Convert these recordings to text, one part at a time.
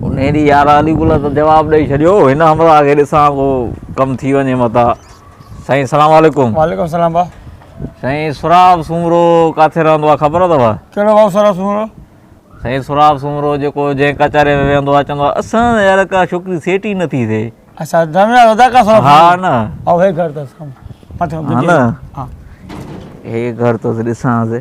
ان ڏينهن يار علي گل ته جواب ڏئي ڇڏيو هن همراهه کي ڏسان ڪو ڪم ٿي وڃي متان سائين سلام عليڪم وعليڪم سلام با سائين سراب سومرو ڪاٿي رهندو آ خبر اٿو ڪهڙو با سراب سومرو سائين سراب سومرو جيڪو جنهن ڪچهري ۾ ويهندو آ چوندو آ اسان يار ڪا ڇوڪري سيٽ ئي نٿي ٿئي اچھا دم يار ادا ڪا سراب ها نه او هي گهر تس مٿي ها نه هي گهر تس ڏسان سي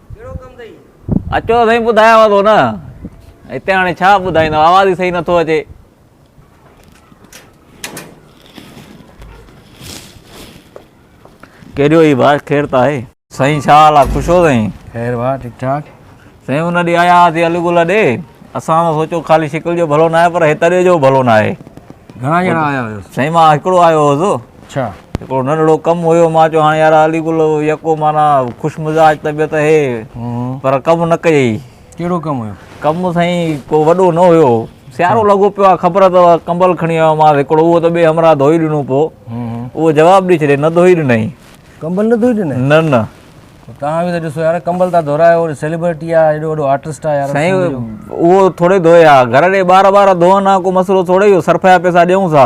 اچو سائين ٻڌايانو ٿو نه هتي هاڻي ڇا ٻڌائيندو آواز ئي صحيح نٿو اچي ڪيڏو هي بار خير ته آهي سائين ڇا حال آهي خوش هو سائين خير وا ٺيڪ ٺاڪ سائين ان ڏي آيا هاسي الو گل ڏي اسان ته سوچو خالي شڪل جو ڀلو نه آهي پر هتڙي جو ڀلو نه آهي گهڻا ڄڻا آيا هيو سائين مان هڪڙو آيو هوس ڇا؟ هڪڙو ننڍڙو ڪم هيو. مان چيو، هاڻ يار علي گل يڪو معنيٰ خوش مزاج طبيعت هي، پر ڪم نه ڪيئي. ڪهڙو ڪم هيو؟ ڪم سائين ڪو وڏو نه هيو. سيارو لڳو پيو آهي، خبر اٿئو، ڪمبل کڻي آيو مانس هڪڙو، اهو ته ٻئي همراهه ڌوئي ڏنو پوء. اهو جواب ڏئي ڇڏيائين، نه ڌوئي ڏنائين. ڪمبل نه ڌوئي ڏنائين؟ نه نه. توهان به ته ڏسو يار، ڪمبل ٿا ڌورايو، سيلبرٽي آهي، ايڏو وڏو آرٽسٽ آهي يار. سائين اهو ٿوري ڌوئي ها، گهر ڏي ٻار ٻار ڌوئن ها، ڪو مسئلو ٿوري هيو، صرف جا پئسا ڏيون ٿا.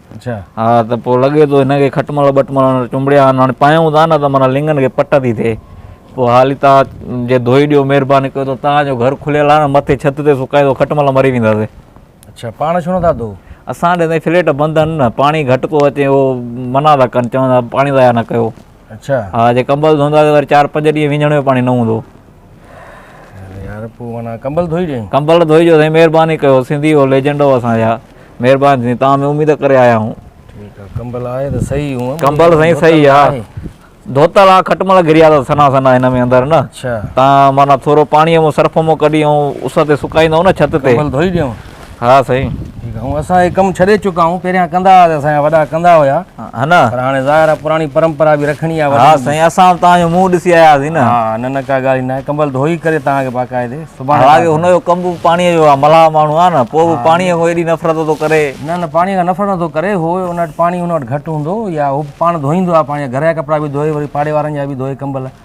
ها ته پوء لڳي ٿو هن کي کٽمل ٻٽمل چنبڙيا آهن هاڻي پايون ٿا نه ته معنيٰ لنگن کي پٽ ٿي ٿئي پوء هالي تان جي ڌوئي ڏيو مهرباني ڪيو ته تان جو گهر کليل آهي نه مٿي ڇت تي سڪائيندو کٽمل مري وينداسي اڇا پاڻ ڇو نٿا ڌو اسان ڏي تائين فليٽ بند آهن نه پاڻي گهٽ ٿو اچي اهو منع ٿا ڪن چون ٿا پاڻي ضايع نه ڪيو اڇا ها جي ڪمبل ڌوئندو آهي ته وري چار پنج ڏينهن وينجهڻ جو پاڻي نه هوندو يار پوء معنيٰ ڪمبل ڌوئي ڏيئي ڪمبل ڌوئي جو سائين مهرباني ڪيو سنڌي هو ليجنڊ هو اسان جا مهرباني سائين تان ۾ اميد ڪري آيا آهيون ٺيڪ آهي ڪمبل آهي ته صحيح هو ڪمبل سائين صحيح آهي ڌوتل آ کٽ مل گريا اٿس سنا سنا هن ۾ اندر نه اڇا تان معنيٰ ٿورو پاڻي مون سرف مون ڪڍي ۽ اس تي سڪائيندو نه ڇت تي ڪمبل ڌوئي ڏيئون ها سائين ٺيڪ آ اسان هي ڪم ڇڏي چڪا آهيون پهريان ڪندا هئاسين اسان جا وڏا ڪندا هيا ها نه پر هاڻي ظاهر آ پراڻي پرمپرا به رکڻي آ ها سائين اسان توهان جو منهن ڏسي آياسين نه ها نه نه ڪا ڳالهه ئي ناهي ڪمبل ڌوئي ڪري توهان کي باقاعدي سبحان الله هن جو ڪم به پاڻي جو آ ملاح ماڻهو آ نه پوء به پاڻي کان ايڏي نفرت ٿو ڪري نه نه پاڻي کان نفرت نٿو ڪري هو ان وٽ پاڻي ان وٽ گهٽ هوندو يا هو پاڻ ڌوئيندو آ پاڻ جا گهر جا ڪپڙا به ڌوئي وري پاڙي وارن جا به ڌوئي ڪمبل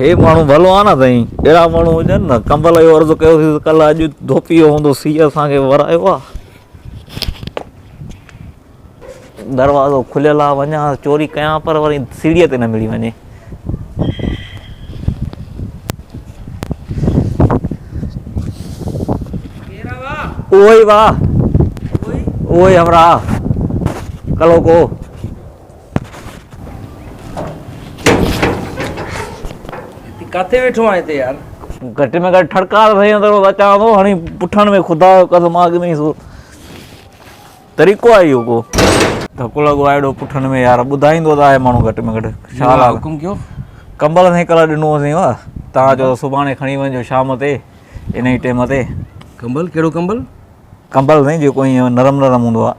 هي ماڻهو ڀلو آ نه سائين. اهڙا ماڻهو هجن نه. ڪنبل اهو عرض ڪيو سين ته ڪلهه اڄ ڌوپيء هوندو سيء اسان کي ورايو آ. دروازو کليل آ وڃان ها چوري ڪيان پر وري سيڙهيء تي نه مڙي وڃي. اهو ئي وا اهو ئي همراهه ڪلهوڪو. ڪاٿي ويٺو آهين هتي يار. گهٽ ۾ گهٽ ٺڙڪا ته سهي اندر وڌاء چوان ٿو هڻي پٺاڻ ۾ خدا جو قسم آگ ۾ سو طريقو آهي اهو ڪو ڌڪ لڳو آهي اهڙو پٺن ۾ يار ٻڌائيندو ته آهي ماڻهو گهٽ ۾ گهٽ ڇا حال حڪم ڪيو ڪمبل سائين ڪلهه ڏنو هوسين وا تان جو سڀاڻي کڻي وڃجو شام تي ان ئي ٽيم تي ڪمبل ڪهڙو ڪمبل ڪمبل سائين جيڪو ائين نرم نرم هوندو آهي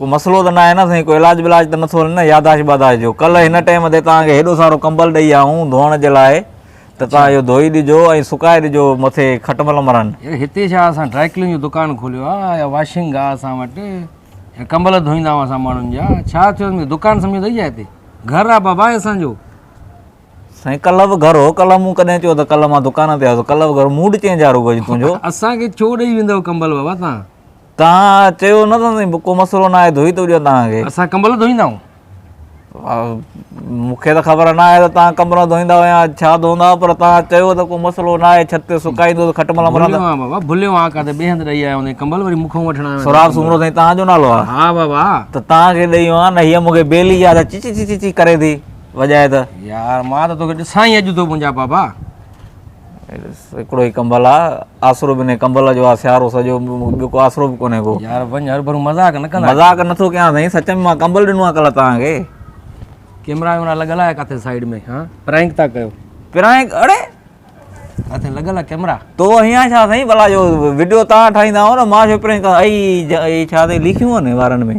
ڪو مسئلو ته ناهي نه سائين ڪو علاج ولاج ته نٿو هلي نه ياداشت باداشت جو ڪلهه هن ٽيم تي توهان کي هيڏو سارو ڪمبل ڏئي آئون ڌوئڻ جي لاء ته توهان اهو ڌوئي ڏجو ۽ سڪائي ڏجو مٿي کٽمل مرن هتي ڇا اسان ڊرائي ڪلين جو دڪان کوليو آهي يا واشنگ آهي اسان وٽ ڪمبل ڌوئيندا آهيون اسان ماڻهن جا ڇا ٿيو مون دڪان سمجهي اٿئي ڇا هتي گهر آهي بابا اسانجو سائين ڪلهه به گهر هو ڪلهه مون ڪڏهن چيو ته ڪلهه مان دڪان تي آيو ڪلهه به گهر موڊ چينج آهي رڳو تنهنجو اسانکي ڇو ڏئي ويندو ڪمبل بابا تان توهان چيو نه ته سائين ڪو مسئلو ناهي ڌوئي ٿو ڏيان توهان کي. اسان ڪمبل ڌوئيندا آهيون. مون کي ته خبر ناهي ته توهان ڪمبل ڌوئيندا يا ڇا ڌوئندا آهيو پر توهان چيو ته ڪو مسئلو ناهي ڇت تي سڪائيندوس کٽ ملهه مرهه ڀليو آهيان بابا ڀليو آهيان ڪا ته ٻئي هنڌ ڏئي آيا هوندين ڪمبل وري مون کان وٺڻ آيا آهيو. سهراب سومرو سائين توهان جو نالو آهي. ها بابا. ته توهان کي ڏئي آيان نه هيء مون کي بيلي آهي ته چي چي چي چي ڪري ٿي وڄائي ته. يار مان ته توکي ڏسان ئي اڄ ٿو منهنجا بابا. هڪڙو ئي ڪمبل آ آسرو به ني ڪمبل جو آ سيارو سڄو ٻيو ڪو آسرو به ڪونهي ڪو يار وڃ هر ڀرو مذاق نه ڪندا مذاق نٿو ڪيان سائين سچ ۾ مان ڪمبل ڏنو آ ڪل توهان کي ڪيمرا ويمرا لڳل آهي ڪاٿي سائيڊ ۾ ها پرانڪ ٿا ڪيو پرانڪ اڙي ڪاٿي لڳل آهي ڪيمرا تو هيان ڇا سائين بلا جو وڊيو توهان ٺاهيندا آهو نه مان جو پرانڪ اي اي ڇا تي لکيون آهن وارن ۾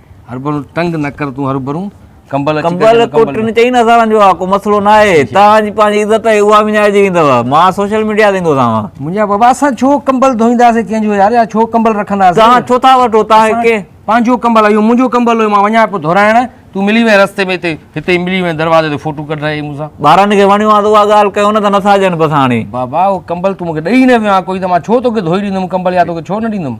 هربرو تنگ نه ڪر تون هربرو ڪمبل اچي ڪنبل ڪنبل ڪوٽن چئي نه سارن جو آ ڪو مسئلو نه آهي توهان جي پنهنجي عزت آهي اها وڃائجي ويندو مان سوشل ميڊيا تي ايندو سامان منهنجا بابا اسان ڇو ڪمبل ڌوئينداسين ڪنهن جو يار يا ڇو ڪمبل رکنداسين توهان ڇو ٿا وٺو توهان کي ڪي پنهنجو ڪمبل اهو منهنجو ڪمبل هو مان وڃان پيو ڌورائڻ تون ملي وين رستي ۾ هتي هتي ملي وين دروازي تي فوٽو ڪڍرائي مون سان ٻارن کي وڻيو آهي ته اها ڳالهه ڪيو نه ته نٿا ڏين بس هاڻي بابا اهو ڪمبل تون مون کي ڏئي نه ويو آهي ڪوئي ته مان ڇو توکي ڌوئي ڏيندم ڪمبل يا توکي ڇو نه ڏيندم